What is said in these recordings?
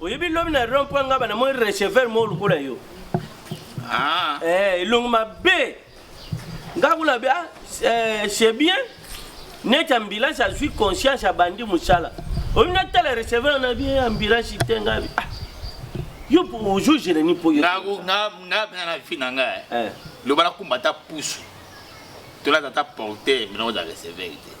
Oyebi lobi na rond point ngaba na moi receveur mo lokola yo. Ah. Eh, elongo mabe. Nga kuna be ah, eh, c'est bien. Neti ambulance azwi conscience abandi mosala. Oyebi na tala receveur na bien ambulance te nga. Ah. Yo ozo gene ni po yo. Nga nga nga pena na fi na nga. Eh. Loba na kumba ta pusu. Tola ta porter biloko za receveur te.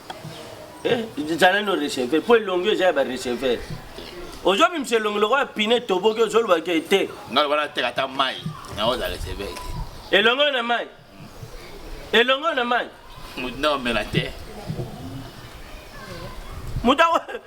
Eh, zala no receveur mpo elongi eza ya bareceveur ozobimisa elongi lokola pine toboki ozolobaka te ngai lokola nateka ata mai yango oza receveur te elongi oyo na mai elongi oyo na mai moto nde omela te moto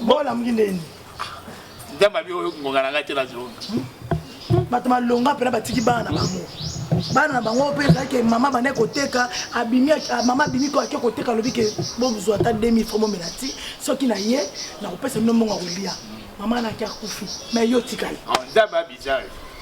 bola muki ndeni ndamba bi oyo ngonga na ngai te na zonga bato malonga mpena batiki bana na bango bana na bango mpe ezalaki mama bande koteka abimi mama abimi ko ake koteka alobi ke bozwa ata 2000 fo bomela ti soki na ye nakopesa bino mbongo ya kolia mama naki akufi me yo otikali ah, nzambe abizari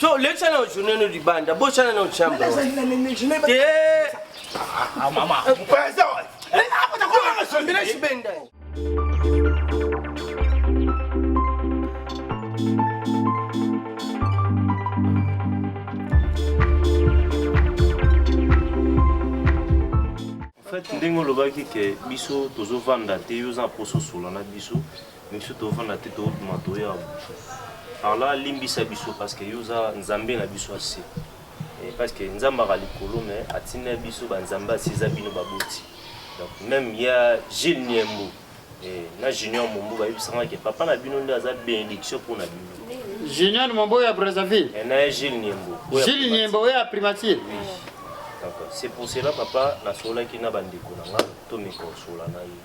so lekisa na journée no libanda bosana na chambre te ah, mama fait ndenge olobaki ke biso tozovanda te yo oza mposo osola na biso Biso tovanda te tobima toya par là limbisa biso parce que yo oza nzambe na biso ya se parce que nzambe aka likolo mais atinda biso ba nzambe asi eza bino baboti donc même ya Gilles Niembo eh, na Junior Mombo bayebisanga ke papa na bino nde aza bénédiction mpo na bino Junior Mombo ya Brazzaville eh, na Gilles Niembo Gilles Niembo oyo ya primature oui. donc c'est pour cela papa nasololaki na bandeko na nga tomekonsola na ye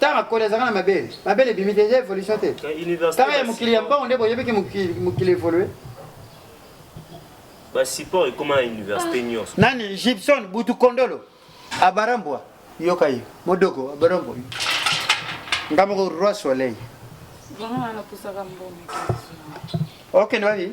Tanga akoli azaka na mabele mabele ebimi te eza evolution te tanga ya mokili ya mbango nde boyebi ke mokili evolue basupport ekoma na université nyonso nani gibson butu kondolo abarambwa yoka ye modoko abarambwa nga moko roi soleil okende wapi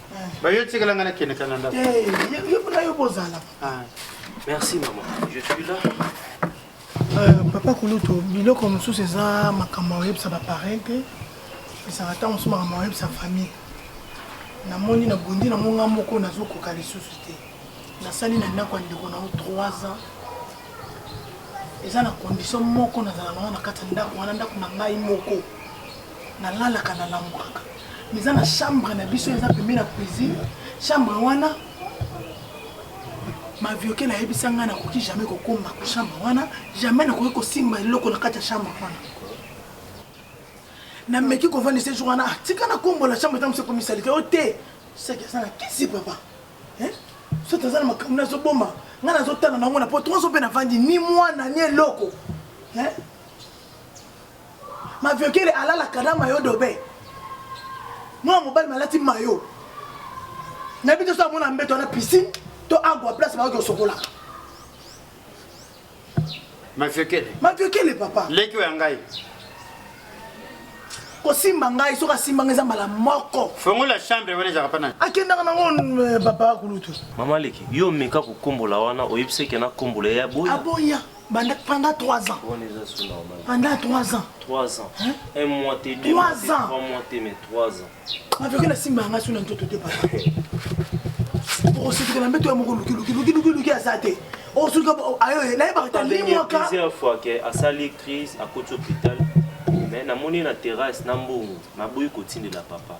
bayo tikala nga nakende kaka na ndako eh, yo bozala ah, merci mama je suis là euh, papa kulutu biloko mosusu eza makambo oyebisa bapareil te esaka ntango mosusu makambo oyebisa famille namoni na bondi na monga moko nazokoka lisusu te nasali na ndako ya ndeko nango 3 ans eza na condition moko nazala nango na kati ya ndako wana ndako na ngai moko na lalaka na langwaka miza na chambre na biso eza pembe na cuisine chambre wana mavioke nayebisa ngai nakoki jamais kokoma ko chambre wana jamais nakoki kosimba eloko na kati ya chambre wana nameki kovandisa jour wana ah, tika nakombola chambre ntango se komisalite o oh, te saki aza na kisi papa soki aza na makambo nazoboma ngai nazotala nango na po tozo mpe navandi ni mwana ni eloko Maviokele alalaka na mayo dobe. Mwana mobali malati mayo. Na bito sa mona mbeto na piscine to agua place ba ko sokola. Maviokele. Maviokele papa. Leki ya ngai. kosimba ngai soki asimba ngai eza mbala moko fongola chambre wana ezaka pana akendaka nango eh, papa kulutu mama leki yo omeka kokombola wana oyebisaki na kombola ya boya aboya Banda, pendant 3 ans. On est sous normal. Pendant 3 ans. 3 ans. Hein? Un mois t'es deux. 3 ans. 3 mois t'es mais 3 ans. Ma vie la simba nga sous n'antoto te papa. Pour ce que la mbeto ya moko luki luki luki luki luki azate. Oh sous ka ayo na yeba ta ni moi ka. Plusieurs fois que asali crise à côté hôpital. Mais na moni na terrasse na mbongo na boyi kotindela papa.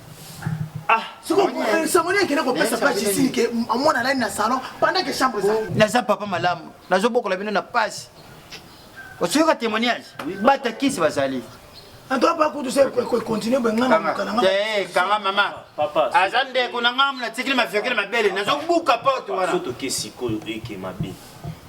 Ah, soko eh, sangoni akende kopesa ba jisini ke amona alali na salon pendant que chambre eza naza papa malamu nazobokola bino na pasi osuyoka témoignage bata kisi bazali antoa pa kutu se continue bengana namuka na ngai kanga mama aza ndeko na ngai natikili maviokele mabele nazobuka porte wana soki toke sikoyo eke mabe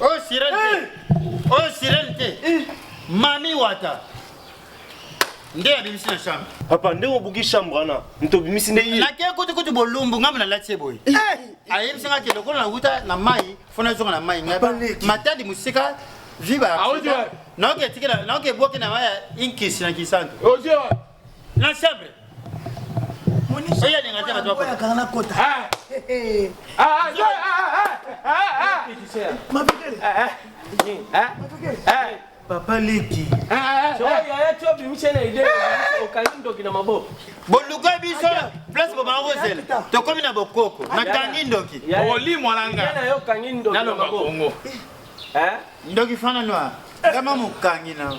Oyo sirène te. Oyo sirène te. Mami Wata. Nde abimisi na chambre. Papa nde obuki chambre wana. Ntobimisi nde ye. Nake kutu kutu bolumbu ngambo na lati boye. Ayebisi nga ke lokola na wuta na mai, fo nazonga na mai ngai. Matadi mosika viva. Naoke tikela naoke boke na mai ya inkisi na kisantu. na chambre oyo alinga te bato bakoyaka na kota mabikele papa leki okangi ndoki na maboko boluka biso place bobanga kozela tokomi na bokoko nakangi ndoki olimwa na nganaloba bongo ndoki fana noir kama mokangi na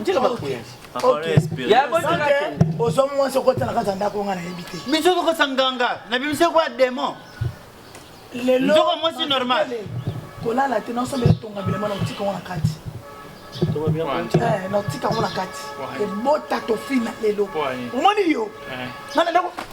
ntika makuya ozwa mwasi okotala kaka ndako nga nayebi te biso tokosa nganga na bimisa kwa demon lelozoko mwasi normal kolala te naosomba etonga bilema na otika ngo na kati eh, naotika ngo na kati ebota tofina lelo omoni yo eh. nga na ndako